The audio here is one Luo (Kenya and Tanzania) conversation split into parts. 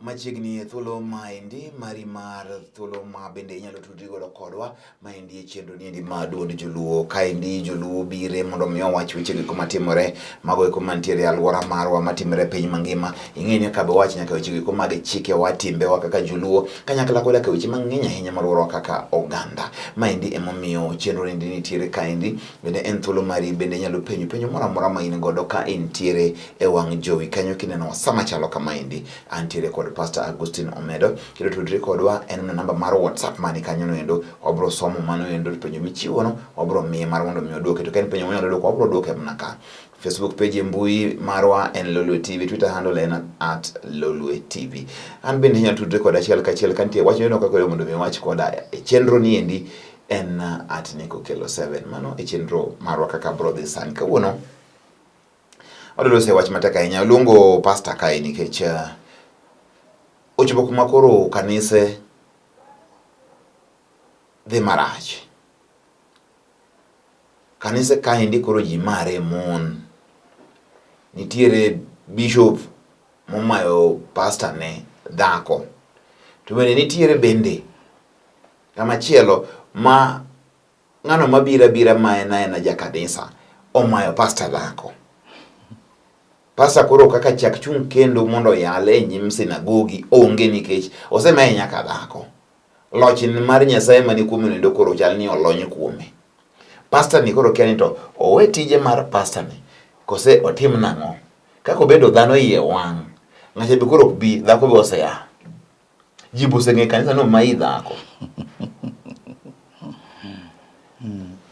machiegni e thuolo maendi mari mar thuolo ma bende inyalo tudri godo kodwa maendi e chenro niendi ma duond joluo kaendi joluo bire mondo mi owach weche giko matimore mago eko mantiere e alwora marwa matimore e piny mangima ing'e ni kaka be wach nyaka weche giko mag chikewa timbewa kaka joluo kanyakla koda ka weche mang'eny ahinya malworowa kaka oganda maendi emomiyo chenro niendi nitiere kaendi bende en thuolo mari bende inyalo penjo penjo moro amora ma in godo ka intiere e wang' jowi kanyo kineno sa machalo kamaendi. Antiere kod Pastor Agustin Omedo, kendo tudri kodwa en na namba mar WhatsApp mani kanyo noendo. Wabro somo mano endo penjo michiwono, wabro miye mar mondo mi odwoke. To ka en penjo monyalo dwoko, wabro dwoke mana ka. Facebook page e mbui marwa en Lolwe TV, Twitter handle en at Lolwe TV. An bende inyalo tudre koda achiel kachiel ka nitie wach miyudo kaka oyudo mondo mi wach koda e chenro ni endi en at Nikokelo 7. Mano e chenro marwa kaka bro dhi sani kawuono. Adwaro se wach matek ahinya. Aluongo pasta kae nikech uh, ochopo kuma koro kanise dhi marach. Kanise kaendi koro ji mare mon. Nitiere bishop momayo pasta ne dhako. To bende nitiere bende kamachielo ma Ng'ano mabira bira ma en aena ja kanisa omayo pasta dhako. Pasta koro kaka chak chung' kendo mondo yale e nyim sinagogi onge nikech osemaye nyaka dhako. Loch mar Nyasaye mani kuome nendo koro chal ni olony kuome. Pasta ni koro kia ni to owe tije mar pasta ni kose otim nang'o. Kaka obedo dhano iye wang'. Ng'acha be koro ok bi dhako be osea. Jibu senge kanisa no mai dhako.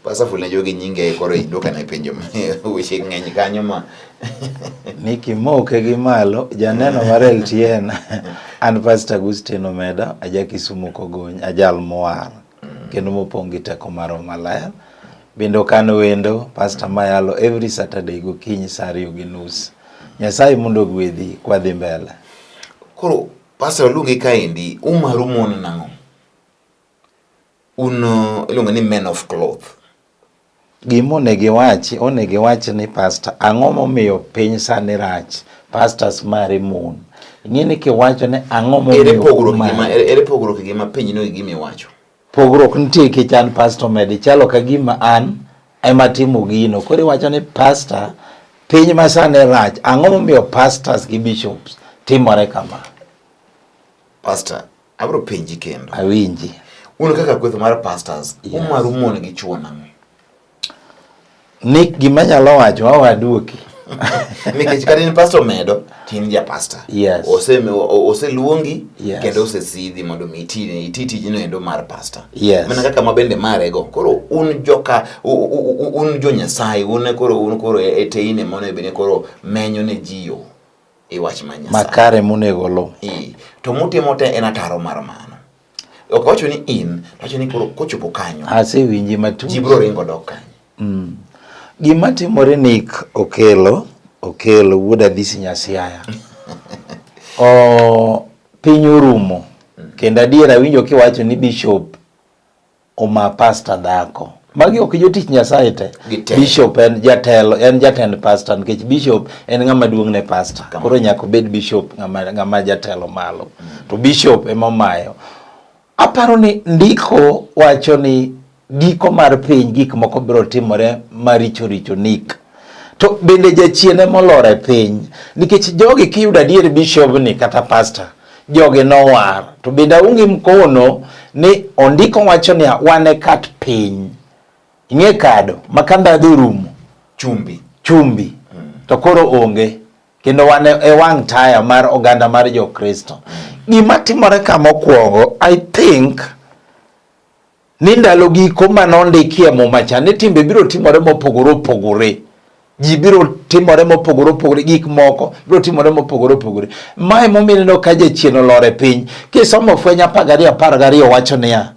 Pasa fulne jogi nyinge koro iduka na penjo weche ng'eny kanyo ma Niki moke gi malo janeno mar LTN an Pastor Agustino Meda aja Kisumu Kogony ajal mwar kendo mopong' gi teko mar Roho Maler. Bende okan wendo Pastor Mayalo every Saturday gokinyi saa ariyo gi nus. Nyasaye mondo ogwedhi kwadhi mbele. Koro Pastor waluongi kaendi, umaru mon nang'o? Un uh, iluongo ni men of cloth. Gima onego iwachi, onego iwach ni pastor ang'o momiyo piny sani rach, pastors mari mon. Ing'eni kiwacho ni ang'o momiyo ere pogruok gima ere pogruok gima piny no gima iwacho. Pogruok nitie kichan pastor med chalo ka gima an ema timo gino. Koro iwacho ni pastor piny ma sani rach, ang'o momiyo pastors gi bishops timore kama? Pastor, Abro penji kendo. Awinji. Uno kaka kwetho mar pastors, yes. umaru mon gi chuo nang'o? Nick gima nyalo wacho awaduoki. Nikech kata in pastor medo, tin ja pastor. Yes. Ose, ose luongi, yes. kendo ose sidhi mondo mi iti, iti tijino endo mar pastor. Yes. Mana kaka ma bende mare go. Koro un joka, un jo nyasaye, un koro, un koro e teine mono e bine koro menyo ne jiyo. e wach ma Nyasaye. Makare monego lo. Ee, to mutimo te en ataro mar mano. Ok wacho ni in, to wacho ni koro kochopo kanyo. Asewinje matut. Ji biro ringo dok kanyo. Mm. Gima timore Nick Okelo, Okelo wuod Adhisi Nyasiaya. o piny orumo. Mm. Kendo adier awinjo kiwacho ni bishop Oma pasta dhako. Magi ok jotich Nyasaye te. Bishop en jatelo, en jatend pasta nikech bishop en ng'ama duong' ne pasta. Koro nyaka obed bishop ng'ama ng'ama jatelo malo. Mm. To bishop ema omayo. Aparo ni ndiko wacho ni giko mar piny gik moko biro timore maricho richo nik. to bende jachien ema olor e piny nikech jogi kiyudo adier bishobni kata pastor jogi nowar to bende aonge mkono ni ondiko wacho ni wane kat piny ing'e kado ma ka ndhadhu orumo chumbi chumbi mm. to koro onge kendo wane e wang' taya mar oganda mar jokristo mm. gima timore ka mokwongo i think ni ndalo giko ma nondiki e muma cha ni timbe biro timore mopogore opogore ji biro timore mopogore opogore gik moko biro timore mopogore opogore mae momineno ka jachien olor e piny kisomo fweny apar gariyo apar gariyo wacho niya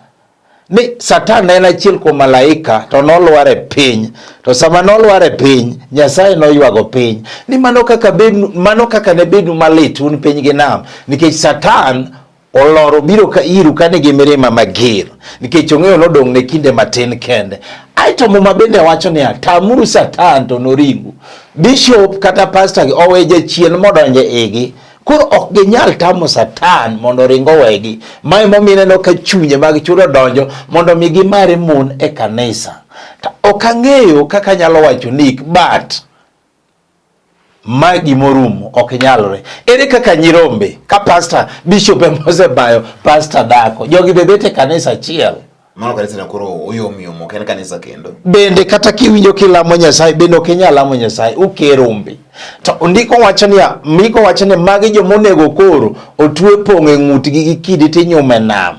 ni satan en achiel kuom malaika to nolwar e piny to sama nolwar e piny nyasaye noywago piny ni mano kaka, mano kaka ne bedu malit un piny gi nam nikech satan Olor obiro ka iru ka nigi mirima mager, nikech ong'eyo nodong' ne kinde matin kende. Aeto Muma bende wacho niya, tamuru Satan to noringu. Bishop kata pastor gi owe jachien modonje igi, koro ok ginyal tamo Satan mondo oring owegi. Ma emomiyo ineno ka chunye mag chudo donjo mondo mi gimare mon e kanisa. To ok ang'eyo kaka anyalo wacho nik but ma gima orumo ok nyalre. Ere kaka nyirombe ka pasta bishop ema osebayo pasta dako jogi be bete kanisa achiel mano kanisa na koro oyomyom ok en kanisa kendo. Bende kata kiwinjo kilamo Nyasaye bende ok inyal lamo Nyasaye ukerombe. To ndiko wacho niya, ndiko wacho ni magi joma onego koro otwe pong' e ng'utgi gi kidi tinyume nam.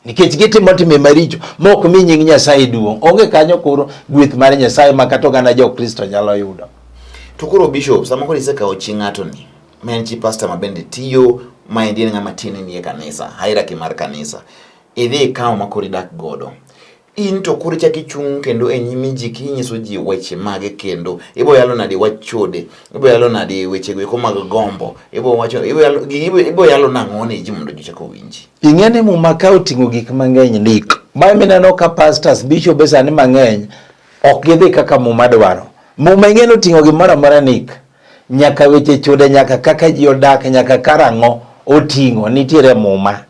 nikech gitimo timbe maricho ma ok mi nying Nyasaye duong'. Onge kanyo koro gweth mar Nyasaye ma kata oganda jo Kristo nyalo yudo. To koro bishop, sama koro isekawo chi ng'ato ni, ma en chi pastor ma bende tiyo, ma endi en ng'ama tiende nie kanisa, hierarchy mar kanisa, idhi ikawo ma koro idak godo. In to koro ichako ichung' kendo e nyimi ji kinyiso ji weche mage kendo ibo yalo nadi wach chode ibo yalo nadi weche goeko mag gombo ibo wacho ibo yalo gi- ibo ibo yalo nang'o ne ji mondo ji chak owinji ing'e ni muma ka oting'o gik mang'eny ndik ma mineno ka pastors bishop e sani mang'eny ok gidhi kaka muma dwaro muma ing'e ni oting'o gimoro amora nik nyaka weche chode nyaka kaka ji odak nyaka karang'o oting'o nitiere e muma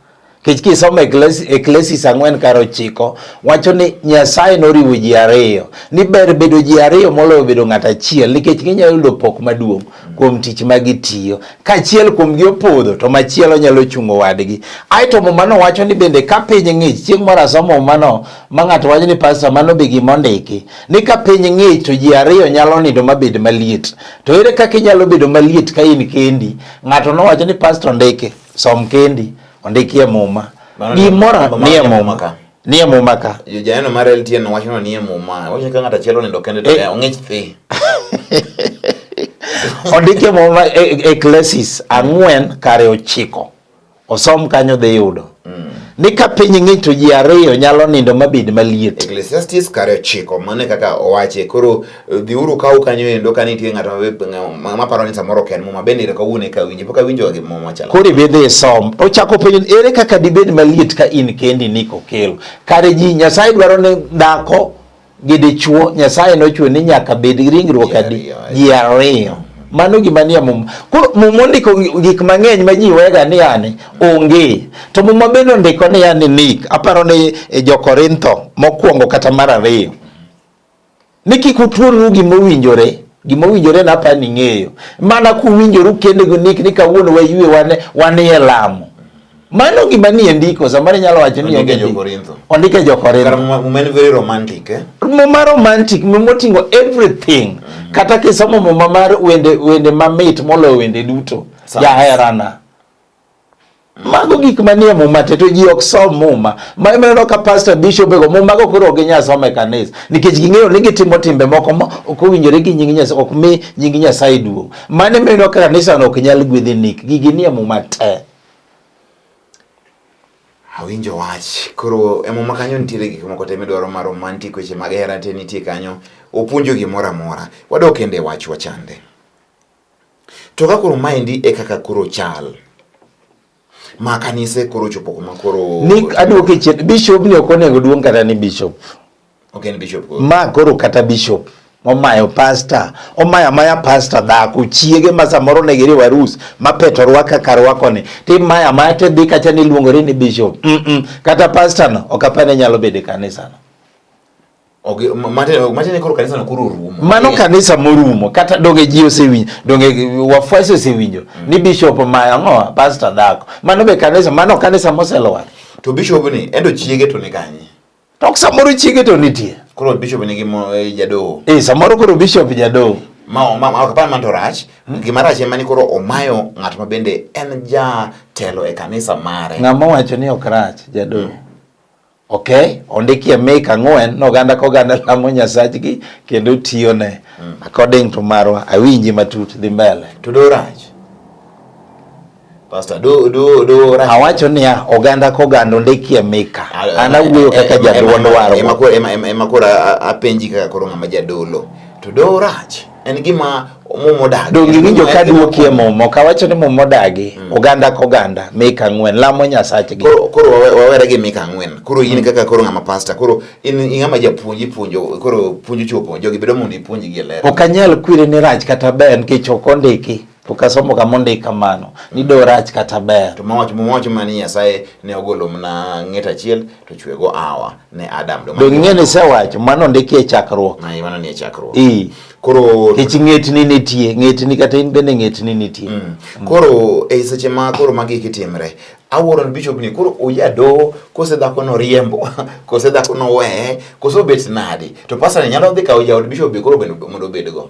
Kech kisomo Eklesis ang'wen kar ochiko wacho ni Nyasaye noriwo ji ariyo ni ber bedo ji ariyo moloyo bedo ng'at achiel nikech ginyalo yudo pok maduong' kuom tich ma gitiyo. Ka achiel kuomgi opodho to machielo nyalo chungo wadgi. Aeto mumano wacho ni bende ka piny ng'ich, chieng' moro asomo mumano ma ng'ato wacho ni pasta mano be gima ondiki ni ka piny ng'ich to ji ariyo nyalo nindo mabed maliet. To ere kaka inyalo bedo maliet ka in kendi? Ng'ato nowacho ni pasta ondiki. Som kendi ondikie muma. Gimora nie muma ka. Nie muma ka. Yo janeno mar LTN wacho ni nie muma. Wacho ka ng'ata chielo nindo kende to eh. ong'ich thi. Ondikie muma Ecclesiastes e, e ang'wen kare ochiko. Osom kanyo dhi yudo. Mm. Ni ka piny ng'ich to ji ariyo nyalo nindo mabed maliet. Ecclesiastes kare ochiko mane kaka owache koro Dhiuru kaw kanyo endo ka nitie ng'ato maparo ni samoro ok en muma bende ero kawuono eka winje pok awinjo gi muma chalo. Koro ibe dhi isom. Ochako penjo ere kaka dibed maliet ka in kendi ni kokelo. Kare ji Nyasaye dwaro ni dhako gi dichuo Nyasaye nochwe ni nyaka bed ringruok adi ji ariyo. Mano gima nie muma. Koro muma ondiko gik mang'eny ma ji wega ni yani onge. To muma bende ondiko ni yani nik. Aparo ni e jo Korintho mokwongo kata mar ariyo. ni kik utuonru gima owinjore gima owinjore na apa ni ng'eyo mana kuwinjoru kende gi nik ni kawuono wayue wan wan e lamo mano gima ni ndiko samoro inyalo wacho ni onge jokorintho ondike jokorintho muma en very romantic eh? muma romantic muma oting'o everything mm -hmm. kata kisomo muma mar wende wende mamit moloyo wende duto jaherana Mago gik manie muma te to ji ok som muma. Ma imeneno ka pastor bishop ego muma go koro ginya somo e kanisa nikech ging'eyo ni gitimo timbe moko ma ok owinjore gi nying Nyasaye ok mi nying Nyasaye duong'. Mano imeneno ka kanisa no ok nyal gwedhi nik gigi nie muma te. Awinjo wach. Koro e muma kanyo nitiere gik moko te midwaro ma romantic weche mag hera te nitie kanyo. Opuonjo gimoro amora. Wadok kende wach wachande. To ka koro maendi e kaka koro chal ma kanise koro chopo kuma koro ni aduoko e chien bishop ni ok onego duong kata ni bishop ok en bishop koro ma koro kata bishop omayo pasta omayo amaya pasta dhako chiege ma samoro ne giriwo arus ma peto rwaka kar rwakoni to imayo amaya to idhi kacha ni iluongori ni bishop mm -mm. kata pastano ok apane nyalo bedo e kanisano Okay, matiende koro kanisa no koro rumo. Mano okay. kanisa morumo kata donge ji osewinjo, donge wafuasi osewinjo mm. ni bishop ma ang'o pastor dhako. Mano be kanisa, mano kanisa moselwar. To bishop ni endo chiege to ni kanye? To samoro chiege to nitie. Koro bishop ni gimo e, jadoho. Eh, samoro koro bishop jadoho. Ma ma ok pan man to rach, mm. gima rach ema ni koro omayo ng'at ma bende en ja telo e kanisa mare. Ng'ama wacho ni ok rach jadoho. Mm. ok ondiki e Mika ang'wen ni oganda ka oganda lamo nyasachgi kendo tiyone mm. according to marwa awinji matut dhi mbele to do rach Pastor, do, do, do, right. Awacho niya oganda ka oganda ondiki e Mika an awuoyo kaka jaduond warwa ema koro apenji kaka koro ng'ama jadolo to do rach en gima mum odagi. Donge iwinjo ka duoki e mum ok awacho ni mum odagi mm. oganda ka oganda mika ang'wen lamo nyasachgi. Koro koro wawere gi mika ang'wen. Koro in mm. kaka koro ng'ama pasta koro in ng'ama japuonj ipuonjo koro puonjo chuo puonjo gibedo mondo ipuonjgi e ler. Ok anyal kwiri ni rach kata ber nikech ok ondiki. ok asomo kama ondik kamano ni do rach kata ber to mawach mawach mani nyasaye ne ogolo mna ng'et achiel to chwego awa ne adam do ng'e ni sewacho mano ondiki e chakruok na mano ni e chakruok i koro kech ng'etni nitie ng'etni kata in bende ng'etni nitie mm. mm. koro e seche ma koro magi kitimre awuoro ni bishop ni koro oyado kose dhako no riembo kose dhako no we kose obet nadi to pastor nyalo dhi kawo jaod bishop be koro mondo obed go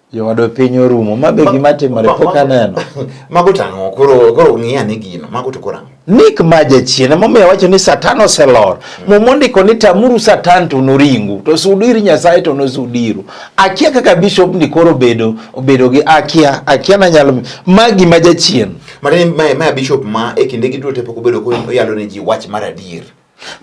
Jowadwa piny orumo, ma be gima timore pok aneno. Mago tang'o, koro koro ng'i ane gino, mago to koro ang'o? Nik ma jachien, emomiyo wacho ni Satan oselor. Muma ondiko ni tamuru Satan to noringu, to sudu ir Nyasaye to nosudiru. Akia kaka bishop ni koro obedo, obedo gi akia, akia nanyalo, ma gima jachien. Mane ma, ma bishop ma e kinde gi duto te pok obedo ko oyalo ne ji wach mar adier.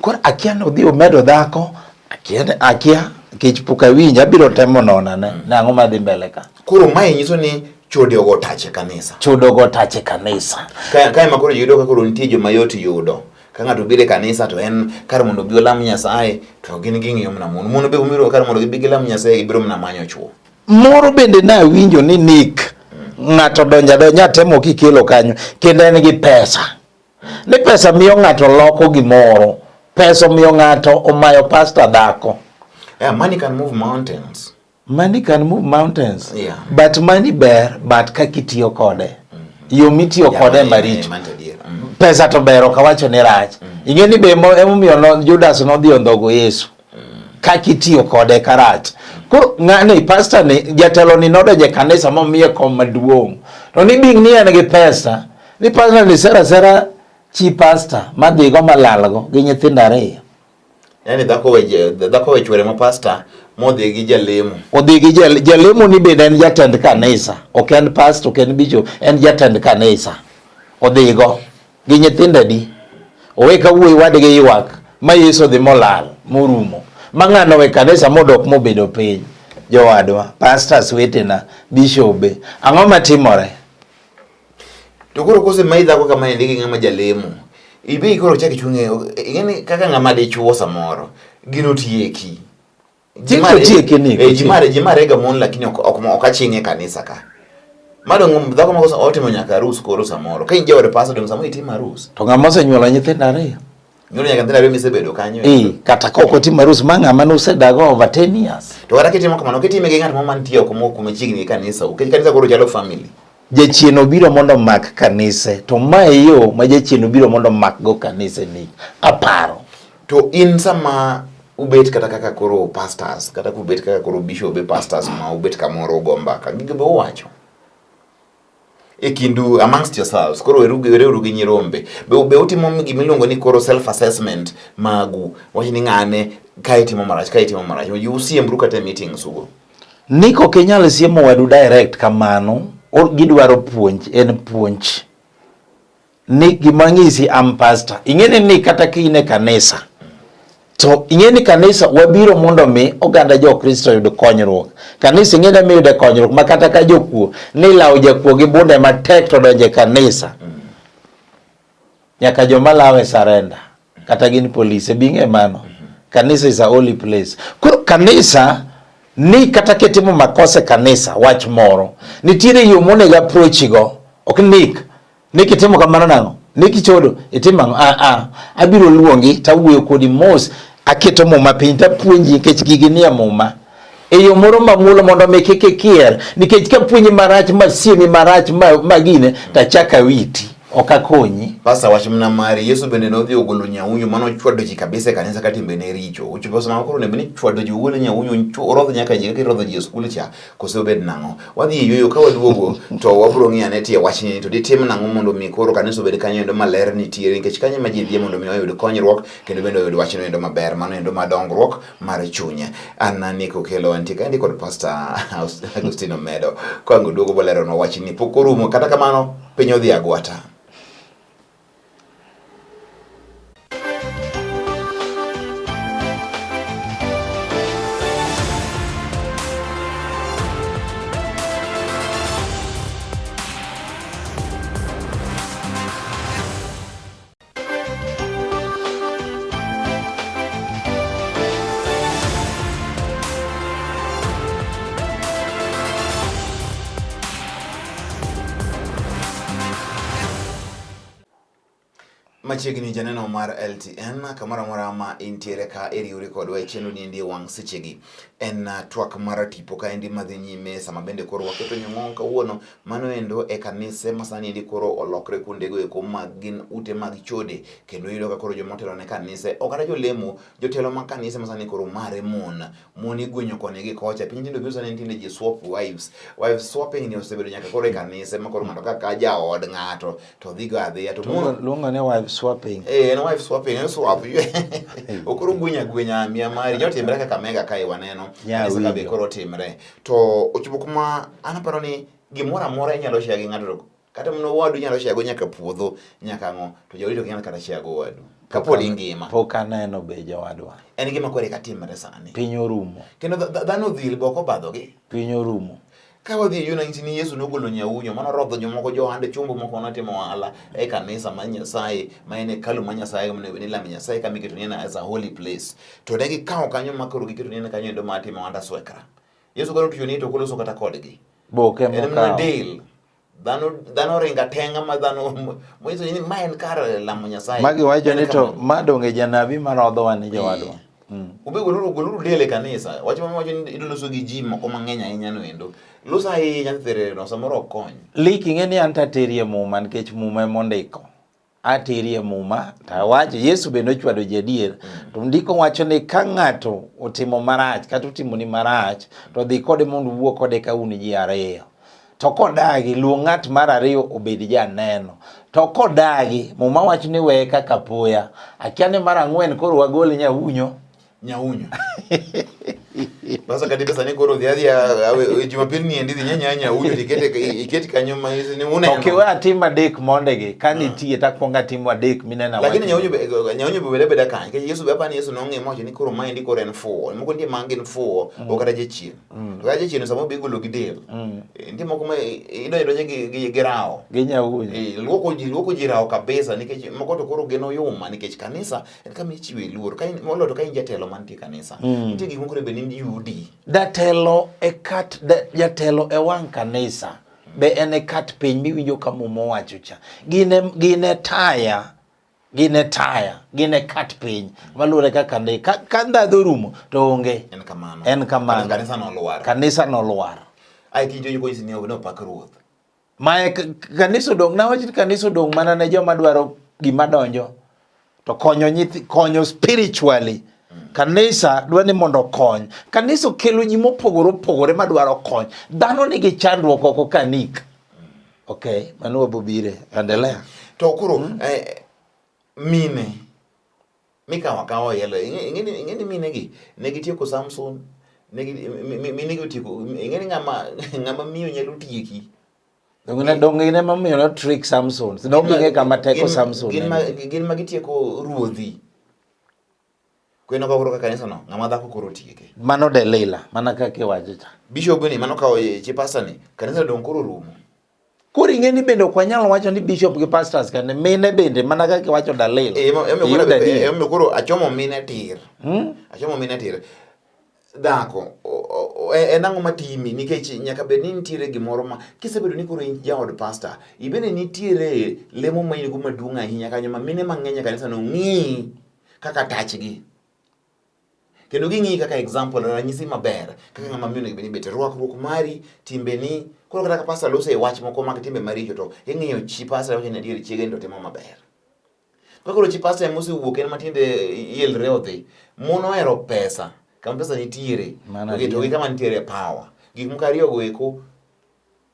Koro akia ni odhi omedo dhako, akia ni akia nikech pok awinjo, abiro temo nona ne mm. nang'o madhi mbele ka. Koro mae nyiso ni chode ogo tache kanisa. Chode ogo tache kanisa. Kaya kaya makoro yudo ka koro nitie joma yot yudo. Ka ng'ato biro e kanisa to en kar mondo obi olam Nyasaye to gin ging'iyo mana mon. Mon be omiro kar mondo gibi gilam Nyasaye gibiro mana manyo chwo. Moro bende nawinjo ni Nick mm. ng'ato donja donja temo kikelo kanyo kendo en gi pesa. Ni pesa miyo ng'ato loko gimoro. Pesa miyo ng'ato omayo pasta dhako. Yeah, money can move mountains. Money can move mountains. Yeah. But money ber but kaka itiyo kode. Mm -hmm. Yo mitiyo yeah, kode maricho. Mm -hmm. Pesa to ber ok awacho ni rach. Mm -hmm. Ing'e ni be emomiyo Judas nodhi ondhogo Yesu. ka kitiyo kode karach. Koro ng'ani pastor ni jatelo ni nodonje kanisa momiye kom maduong'. To ni bing ni en gi pesa ni pastor ni sera sera chi pastor madhigo malalgo gi nyithindo ariyo. Yani dhako we dhako we chwere ma pastor modhi gi jalemo. Odhi gi jal, jalemo ni bende en jatend kanisa. Ok en pastor, ok en bishop, en jatend kanisa. Odhigo. gi nyithindo adi owe ka wuoyi wadgi ywak ma Yesu odhi molal morumo ma ng'ano we kanisa modok mobedo piny jowadwa pastors wetena bishobe ang'o matimore to koro kose ma idhako kama endi gi ng'ama jalemo ibi koro chak ichung'e ing'eni kaka ng'ama dichuo samoro gino tieki jimare jimare ga mon lakini ok ok aching'e kanisa ka mado ngom dhako moko otimo nyaka harus koro samoro ka inje ore pastor dem samoro itimo harus to ng'ama osenyuola nyithindo ariyo nyuola nyaka nyithindo ariyo misebedo kanyo eh kata ka ok otimo harus ma ng'ama nosedago over 10 years to kata kitimo kamano kitime gi ng'at moro mantie oko moko machiegni gi kanisa ukech kanisa koro chalo family Jachien obiro mondo omak kanise, to ma e yo ma jachien obiro mondo omakgo kanise ni aparo. To in sama ubet kata kaka koro pastors kata kubet kaka koro bishop e pastors ma ubet kamoro ugo mbaka gige be uwacho e kindu amongst yourselves koro wereuru gi nyirombe be, be utimo gima iluongo ni koro self assessment magu wach ni ng'ane ka itimo marach ka itimo marach usiembru kata e meetings ugo Nick ok inyal siemo wadu direct kamano, gidwaro puonj, en puonj. Nick gima ng'isi am pastor. Ing'eni ni kata kine kanisa. To ing'eni kanisa wabiro mondo mi oganda jo Kristo yud konyruok. Kanisa ing'eni mi yude konyruok ma kata ka jokuo ni lawo jakuo gi bunde matek to donje kanisa. Mm. Nyaka joma lawe sarenda kata gin polise bing'e mano. Kanisa is a holy place. Koro kanisa ni kata kitimo makosa e kanisa wach moro, nitiere yo monego approach go. Ok nik ni kitimo kamano nang'o? Ni kichodo itimo ang'o? Ah ah, abiro luongi tawuoyo kodi mos, aketo muma piny tapuonji nikech gigi nie muma. e yo moro mang'ulo mondo mi kik ikier nikech ka puonji marach ma siemi marach ma gine to achak awiti ok akonyi. Pasta wach mna mari Yesu bende nodhi ogolo nyaunyo mano chwado ji kabisa e kanisa ka timbe ne richo. Uchi pasta ma koro ne bende chwado ji wuole nyaunyo nchu orodh nyaka ji kaka rodho ji e skul cha kose obed nang'o. Wadhi e yueyo ka waduogo to wabro ng'iyo ane tie wach ni to ditim nang'o mondo mi koro kanisa obed kanyo endo maler nitiere nikech kanyo ma ji dhie mondo mi oyud konyruok kendo bende oyud wach no endo maber mano endo ma dongruok mar chunya. An ni kokelo antie kaendi kod Pastor Agustino Medo kwango duogo bolero na wach ni pok orumo kata kamano piny odhi agwata. Machiegni janeno mar LTN kamoro amora ma intiere ka iriwri kodwa e chenro ni endi e wang' sechegi. En uh, twak mar tipo ka endi madhi nyime sama bende koro waketo nyong'o kawuono Mano endo e kanise ma sani endi koro olokre kuondego eko mag gin ute mag chode kendo yudo ka koro joma otelo ne kanise ok kata jolemo jotelo mag kanise ma sani koro mare mon mon igwenyo koni gi kocha piny tinde obiro sani tinde ji swap wives wives swapping ni osebedo nyaka koro e kanise ma koro ng'ato kaka jaod ng'ato to dhigo adhiya to mon luongo ne wives swapping eh en wives swapping en swap okoro gwenya gwenya mia mari jotimre kaka mega kae waneno kanise ka be koro timre to ochopo kuma an aparo ni gimoro amora inyalo share gi ng'ato kata mana owadu inyalo share go nyaka puodho nyaka ang'o to jawadu ok nyal kata share go owadu kapod ingima pok aneno be jawadwa en gima kore ka timre sani piny orumo kendo dhano dhil boko badhogi piny orumo ka wadhi e yunanchi ni yesu nogolo nyaunyo mano rodho jomoko johande chumbo moko notimo ohala e kanisa ma nyasaye ma en hekalu ma nyasaye nilame nyasaye kama iketo ni as a holy place To ne gikawo kanyo ma koro giketo ni kanyo endo ma timo anda swekra. Yesu koro tuyo ni to kolo so kata kodgi. Boke mo ka. Deal. Dhano dhano ringa tenga ma dhano mo iso ni ma en kar lamo Nyasaye. Magi wacho ni to ma donge janabi ma rodho wan ni jowadwa. Eh. Mm. Ube goluru goluru dele kanisa. Wacho ma wacho ni idolo so gi ji moko mang'eny ahinya no endo. Lusa ahinya therero samoro okony. Liki ng'e ni an taterie muma nikech muma emondiko. aterie muma to awacho Yesu bende ochwado jadier mm. to ndiko wacho ni ka ng'ato otimo marach kata otimo ni marach to dhi kode mondo uwuo kode ka un ji ariyo to kodagi luong ng'at mar ariyo obed janeno to kodagi muma wacho ni weye kaka poya akia ni mar ang'wen koro wagol nyawunyo nyaunya basa kati pesa ni koro dhiadhi e jumapili ni endithi nyanya nyaunya ikete iketi kanyo ma hizi ni uneno okay wa tima dek monde ge kani hmm. tie ta konga timu adek minena wa lakini nyaunya nyaunya bele bele kan ke yesu baba ni yesu nonge moche ni koro ma ndi koro en fo mo ko ndi mangi ni fo hmm. o kata je chien hmm. to je chien samo bigulo gidel eh, ndi mo kuma ido ido je gi girao gi nyaunya eh, luoko ji luoko ji rao kabisa nikech mo ko to koro geno yuma nikech kanisa en kama ichiwe luor moloyo to ka in jatelo mantie kanisa mm. nitie gik moko be ni yudi jatelo e kat jatelo e wang' kanisa be en e kat piny miwinjo ka muma owacho cha gin e taya gin e taya gin e kat piny maluwore kaka ndi ka ndhadho rumo to onge en kamano en kamano kanisa nolwar kanisa nolwar ai tijoni konyisi ni opak ruoth Mae kanisa odong' nawach ni kanisa odong' mana ne joma dwaro gima donjo to konyo nyithi konyo spiritually kanisa dwa ni mondo okony kanisa okelo ji mopogore opogore ma dwaro kony dhano nigi chandruok oko kanik ok mano wabobire endelea to koro mm. eh, mine mikawo akawa yalo ing'eni minegi ne gitieko samson minegi otieko ing'eni ng'ama ng'ama miyo nyalo tieki dongine mamiyo no trick samson nobinge kama teko samson gin ma gitieko ruodhi kweno ka koro kanisa no ng'ama dhako koro tieke mano delila mana kaka iwacho cha bishop ni mano kawo chipasa ni kanisa dong koro rumo Koro ing'e ni bende ok wanyal wacho ni bishop gi pastors kane mine bende mana kaka iwacho dalil. Eh, ema- ema Iyudo koro- adier. eh, ema koro achomo mine tir Hmm? achomo mine tir dhako o- o- o- en ang'o matimi nikech nyaka bed ni nitiere gimoro ma kisebedo ni koro in jaod pasta ibende nitiere lemo ma in go maduong' ahinya kanyo ma mine mang'eny e kanisa no ng'i kaka tachgi kendo ging'iyi kaka example ranyisi maber kaka ng'ama miyo onego bed ni bete rwakruok mari timbeni koro kata ka pastor lose wach moko mag timbe maricho to ing'iyo chi pastor wacho ni adier chiege to timo maber kaka koro chi pastor ema osewuok en matiende yelre odhi mon ohero pesa kama pesa nitiere to gi kama nitiere power gik moko ariyo go eko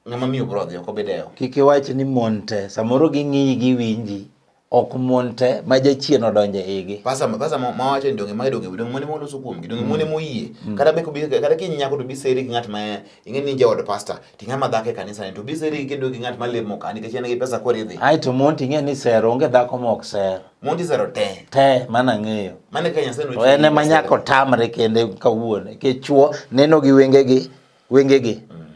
ng'ama miyo bro dhi ok obidewo kik iwach ni mon te samoro ging'iyi giwinji ok mon te ma jachien odonje igi pasa pasa ma wacho ni donge ma donge donge mon mo loso kuom gi donge mon mo yie mm. kata be ko kata ki nyako to bi seri gi ng'at ma ing'e ni jaod pasta ti ng'ama dhako e kanisa ni to bi seri gi kendo gi ng'at ma lemo ka nikech en gi pesa kore dhi ai to mon ting'e ni sero onge dhako mok ser mon ti sero te te mana ng'eyo mane ka nyasaye no en ma nyako tamre kende kawuone ke chuo neno gi wenge gi wenge gi mm.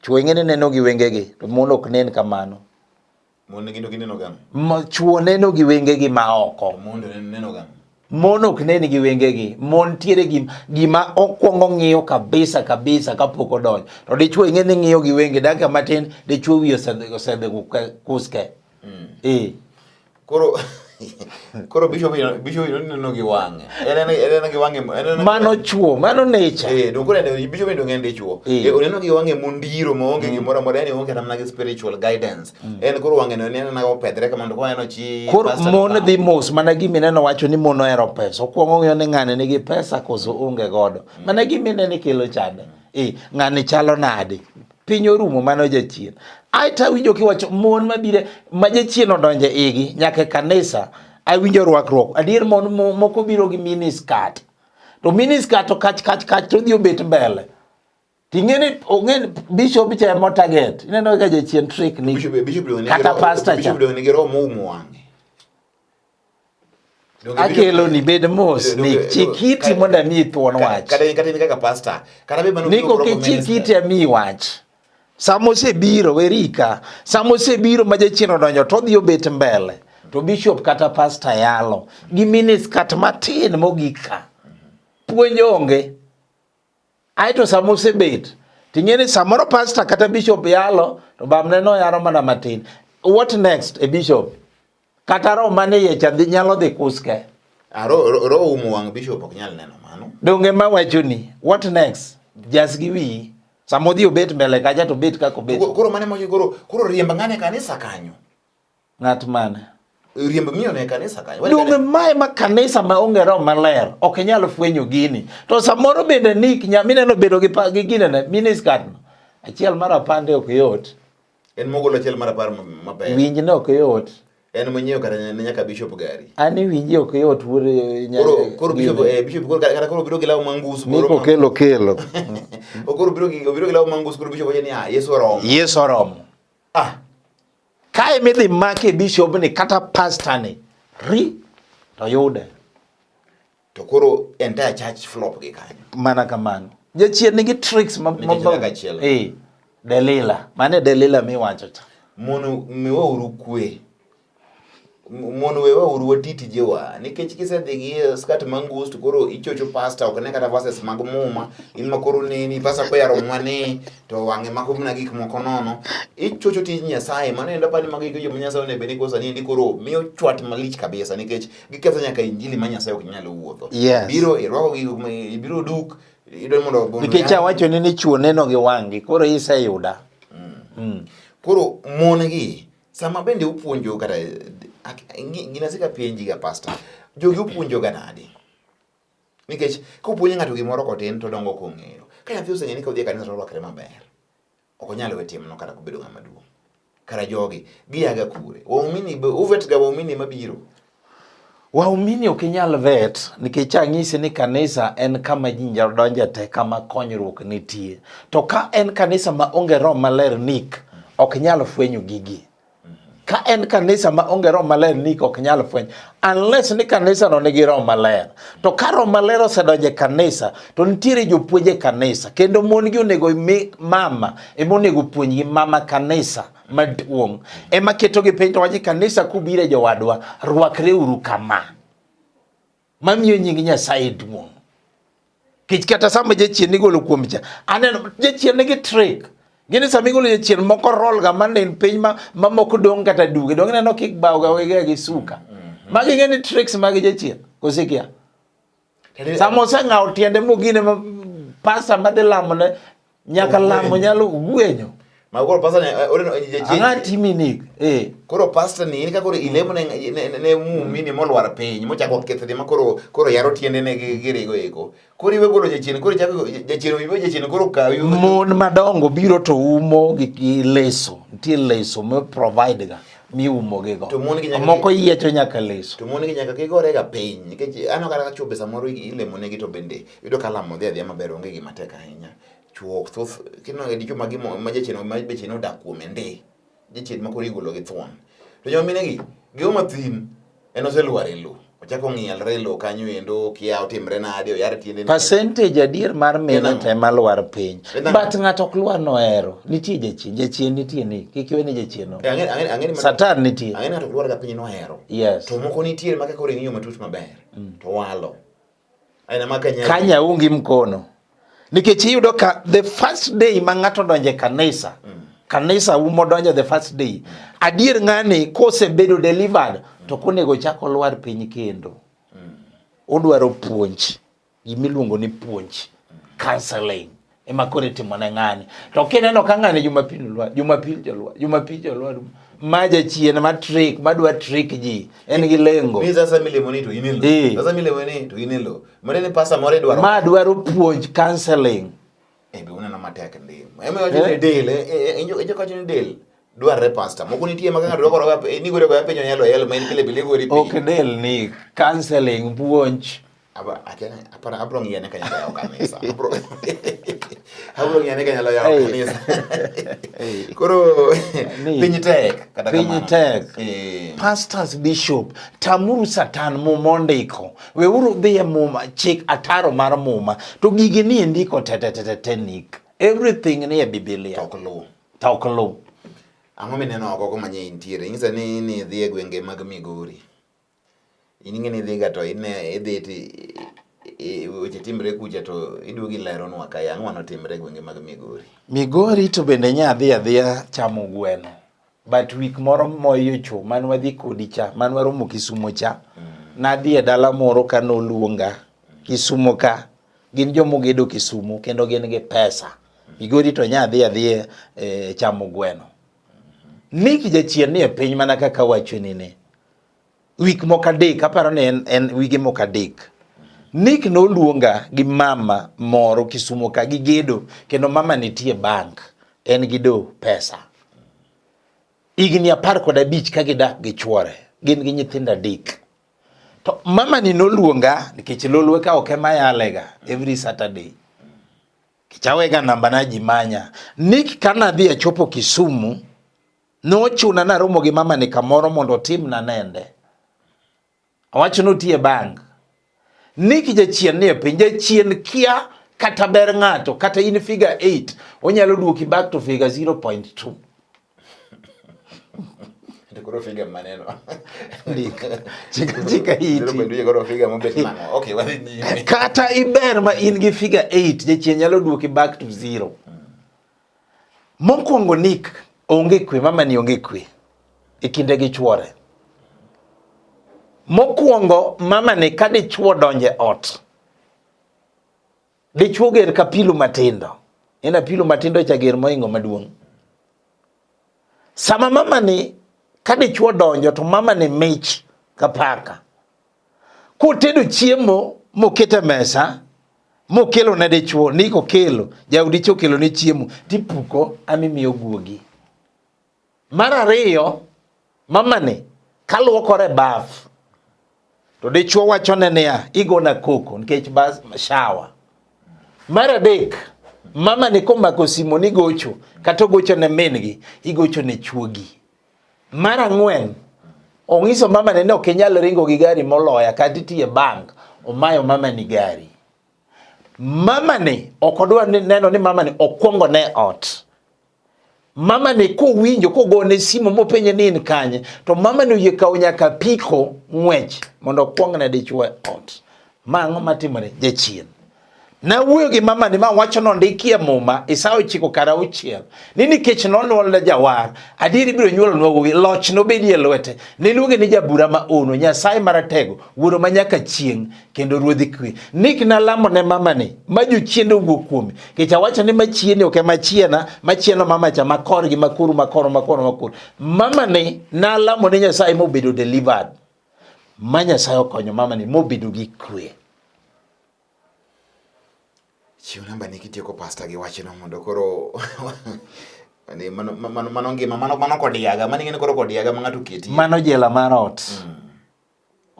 Chwo ing'e ni neno gi wengegi to mon ok nen kamano. Mon neno gi neno gang'o? Ma chwo neno gi wengegi ma oko. Mon neno gang'o? Mon ok nen gi wengegi. Mon tiere gi gima okwongo ng'iyo kabisa kabisa kapok odonjo. To dichwo ing'e ni ng'iyo gi wenge dakika matin dichwo wiye osedhi kuske. Mm. Eh. Koro Koro bishop bishop inoneno gi wang'e. Enene enene gi wang'e enene. Mano chuo, mano nature. Eh, don kore ne bishop ndo ngende chuo. Eh, eh oneno gi wang'e mundiro ma onge mm. gimoro amora yani onge namna gi spiritual guidance. Mm. En koro wang'e no enene na opedre kama ndo kwa eno chi. Koro mon dhi mos mana gi mineno wacho ni mon ohero pesa. Okuongo ng'iyo ni ng'ane nigi pesa koso onge godo. Mm. Mana gi mineno kelo chande. Eh, ng'ane chalo nade? piny orumo mano jachien ae to awinjo kiwacho mon mabire ma jachien odonje igi nyaka e kanisa awinjo rwakruok adier mon moko biro gi miniskat to miniskat to kach kach kach to odhi obet mbele tingene ongen bishop cha mo target ineno ka jachien trick ni kata pastor cha akelo ni bed mos ni chikiti mondo amiyi thuon wach niko ki chikiti amiyi wach sama osebiro werika sama osebiro ma jachien odonjo to odhi obet mbele to bishop kata pasta yalo gi miniskat matin mogik ka puonj onge aeto sama osebet ting'e ni samoro pasta kata bishop yalo to bamne noyaro mana matin what next e bishop Kata roho man e iye cha dhi nyalo dhi kuske. Ah, ro- ro- roho umo wang' bishop ok nyal neno mano Donge ma wachoni, what next? Jas gi wiyi. Sama odhi obet mbele kacha to obet kaka obet. Koro- koro mane mochi koro koro riemb ng'ane e kanisa kanyo Ng'at mane? riemb miyo ne e kanisa kanyo Wach Donge kane- mae ma kanisa ma onge roho maler ok inyal fwenyo gini. To samoro bende nik nya mineno bedo gi pa- gi ginene miniskirt no. Achiel mar apande ok yot. En mogolo achiel mar apar maber. Winj ne ok yot. En monyiewo kata ne nyaka bishop gari. An iwinji ok yot wuod nyanya. Koro koro bishop eh bishop koro kata koro biro gi law mangus koro. Niko kelo kelo. Okoro biro gi obiro gi law mangus koro bishop ni ah Yesu oromo. Yesu oromo. Ah. Kae midhi make bishop ni kata pastor ni. Ri to yude. to koro entire church flop gi kanyo mana kamano jachien nigi tricks ma eh delila mane delila miwacho cha mono miwauru kwe mono wewauru wati tijewa nikech kisedhi gi eh, skat mangus to koro ichocho pasta ok ne kata verses mag muma in ma koro neni pasta koyaro mwane to wang'e mako mana gik moko nono ichocho tij nyasaye mano endo pani mago iko joma nyasaye onebeni kosani endi koro miyo chwat malich kabisa nikech giketho nyaka injili ma Nyasaye ok nyal wuotho. Yes. Biro irwako gi ibiro duk idol mondo ogono. Nikech awacho ni ni chuo neno gi wang'gi koro iseyuda. Mm. Mm. Koro mon gi sama bende upuonjo kata gina sika penji ga pastor jogi upuonjo ga nadi? Nikech kupuonjo ng'ato gimoro kotin to dongo kong'eyo. Ka nyathi oseng'e ni ka odhi e kanisa to orwakre maber. ok onyal we timno kata kobedo ng'ama duong'. Kara jogi giaga kure? Waumini uvet ga waumini mabiro. Waumini ok inyal vet nikech anyisi ni kanisa en kama ji nyalo donje te kama konyruok nitie. To ka en kanisa ma onge roho maler nik ok nyal fwenyo gigi. Ka en kanisa ma onge roho maler ni ok nyal fweny unless ni kanisa no nigi roho maler. To ka roho maler osedonje kanisa to nitiere jopuonje kanisa kendo mon gi onego mi mama ema onego puonjgi mama kanisa maduong' ema keto gi piny to waje kanisa kubire jowadwa rwakre uru kama. mamiyo nying Nyasaye duong'. Kech kata sama jachien nigolo kuom cha, aneno jachien nigi trick. Gini sama igolo jachien moko roll ga man in piny ma ma moko dong kata duge. Dong neno kik bawo ga wege gi suka. Mm-hmm. Magi ngeni tricks magi jachien. Kosikia. Sama oseng'awo tiende mogine ma pasa madhi lamone Nyaka lamo nyalo gwenyo. Ma koro pastor ne eh, ore no je je. Ang'a timi ni. Eh. Koro pastor ni in ka koro ilemo ne ne mumi ni molwar piny mochako kethe ma koro koro yaro tiende ne girigo eko. Koro iwe golo jachien koro chako jachien iwe jachien koro kawi. Mon madongo biro to umo gi leso. Nitie leso mo provide ga miumogigo moko yiecho nyaka leso to mon gi nyaka gigorega piny nikech aneno kata ka chwobe samoro ilemonegi to bende Yudo ka lamo dhi adhiya maber onge gima tek ahinya. Chuo ok thoth kineno ga dichwo ma gimo ma jachien ma jachien odak kuome ndi. Jachien ma koro igolo gi thuon. To joma mine gi geo mathin en oselwar e lowo. Ochako ng'ielre e lowo kanyo endo kia otimre nade oyar tiende. Percentage adier mar mine te ma lwar piny. But ng'ato ok lwar nohero. Nitie jachien, jachien nitie ni. Kik iwe ni jachien no. Ang'e ang'e ang'e Satan nitie. Ang'e ng'ato lwar ga piny nohero. Yes. To moko nitie ma kaka ore ng'iyo matut maber. To walo. Kanye aungi mkono nikech iyudo ka the first day ma ng'ato donje kanisa mm. kanisa umo donjo the first day adier ng'ani kosebedo delivered to konego chako lwar piny kendo mm. udwaro puonj gimiluongo ni puonj counseling ema koro itimo ne ng'ani to kineno ka ng'ani jumapil lwa jumapil jolwa jumapil jolwa ma jachien ma trick ma dwa trick ji en gi lengo ni sasa milemo ni to in elo eh. sasa milemo ni to in elo mane ni pasa more dwaro ma dwaro puonj counseling e be uneno matek ndi ema wacho ni eh? del e jo jo kacho ni del dwarre pasta moko nitie ma ng'ato dwaro ga ni gore ga penyo nyalo el ma en kile bile gori ok del ni counseling puonj Abra, akena, apara, abro ngiya ne kanyalo yawo kanisa. Abro, abro ngiya ne kanyalo yawo Hey. kanisa. Hey. Koro, Ni. piny tek. kata Piny kamano. tek. Eh, pastors bishop tamuru satan muma ondiko weuru dhi e muma chik ataro mar muma to gigi ni e ndiko tetetetetenik everything ni e bibilia ok luw. to ok luw Ang'o mineno oko kumanye intiere? Nyisa ni ni idhi e gwenge mag Migori. In ing'e ni idhiga to ine idhi ti weche timre kucha to iduogo ileronwa kae ang'o manotimre e gwenge mag Migori. Migori to bende nya adhi adhiya chamo gweno but week moro moyo cho man wadhi kodi cha man waromo Kisumo cha mm. nadhi e dala moro ka noluonga Kisumo ka gin jomogedo Kisumo kendo gin gi pesa Migori to nya adhi adhiya e, chamo gweno. Nick jachien ni e piny mana kaka wachonine wik moko adek aparo ni en, en wige moko adek Nick noluonga gi mama moro Kisumo ka gi gedo kendo mama nitie bank en gi do pesa higni apar kod abich ka gidak gi chuore gin gi nyithindo adek to mama ni noluonga nikech lolwe ka ok ema yalega every Saturday kichawega namba na ji manya Nick kana dhi achopo Kisumu Nochuna naromo gi mamani kamoro mondo otimna nende. Awacho notiye bank. Ni kijachien nie piny, jachien kia kata ber ng'ato, kata in figure 8, onyalo duoki back to figure 0.2. Koro figa maneno. Ndika. Chika chika iti. Ndio koro figa mobet nango. Okay, wadhi nyime. Kata iber ma in gi figa 8, jachien nyalo duoki back to 0. Mokwongo nik onge kwe, mamani onge kwe e kinde gi chwore. Mokwongo mamani ka dichwo donje ot, dichwo ger ka pilu matindo, en apilu matindo cha ger moingo maduong'. Sama mamani ka dichwo donjo to mamani mich ka paka. Kotedo chiemo mokete mesa mokelo ne dichuo ni kokelo jaudi chokelo ne chiemo tipuko amimiyo guogi. Mar ariyo mamani kaluokore baf to dichuo wachone niya igona koko nikech bas shawa. Mar adek mama ni komako simo ni gocho kata ogocho ne min gi igocho ne chuogi Mar ang'wen, ong'iso mama ne ni ok inyal ringo gi gari moloya kata itiye bank, omayo mama ni gari. Mama ni ok odwa ni neno ni mama ni okwongo ne ot. Mama ni kowinjo kogone simu mopenje ni in kanye, to mama ni oyie kawo nyaka piko ng'wech mondo okwong ne dichwe ot. Ma ang'o matimore? Jachien. Nawuoyo gi mamani ma wacho nondikie Muma Isaya ochiko kar auchiel ni nikech nonywolne jawar adier ibiro nywolonwa wuowi loch nobedie lwete niluonge ni jabura ma ono Nyasaye maratego wuoro ma nyaka chieng' kendo ruodhi kwe nik nalamo ne mamani ma jochiende owuok kuome nikech awacho ni machieni ok ema chiena machieno mamacha makor gi makuru makoro makoro makoro mamani nalamo ne Nyasaye mobedo delivered ma Nyasaye okonyo mamani mobedo gi kwe Chiw namba ni kitieko pasta gi wachno mondo koro ni mano mano mano ngima mano mano kodiaga mano ing'e koro kodiaga ma ng'ato keti. Mano jela mar ot. Mm.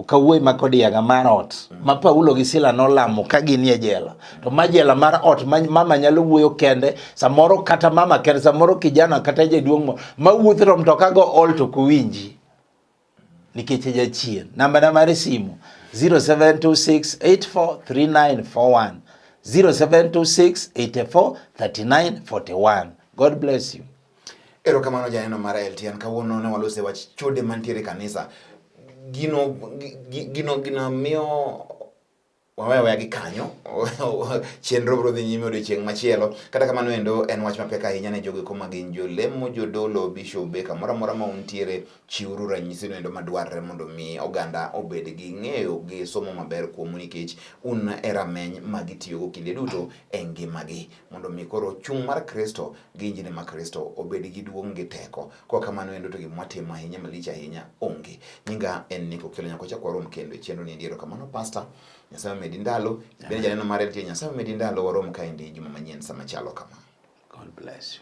Okawuoyi ma kodiaga mar ot mm. ma Paulo gi Sila nolamo ka gin e jela. To ma jela mar ot ma mama nyalo wuoyo kende samoro kata mama kende samoro kijana kata jaduong' ma wuotho to mtoka go ol to kuwinji. nikech e jachien. Namba na mar simu 0726843941 0726843941. God bless you. Erokamano janeno mar LTN kawuono ne walose wach chode mantiere kanisa. Gino gino gino miyo waweya weya gi kanyo chenro biro dhi nyime odiochieng' machielo kata kamano endo en wach mapek ahinya ne jogo kuma gin jolemo jodolo bishobe kamoro amora ma untiere chiwuru ranyisi no endo madwarre mondo mi oganda obed gi ng'eyo gi somo maber kuomu nikech un e rameny ma gitiyogo kinde duto e ngimagi mondo mi koro chung' mar Kristo gi injili ma Kristo obed gi duong' gi teko. Kwa kamano endo to gima watimo ahinya malich ahinya onge. Nyinga en Nico Kelo nyako chakwa rom kendo chenro ni ndiero kamano pastor. Nyasaye medi ndalo. Ibende janeno mare tie Nyasaye medi ndalo warom kaendi juma manyien sama chalo kama. God bless you.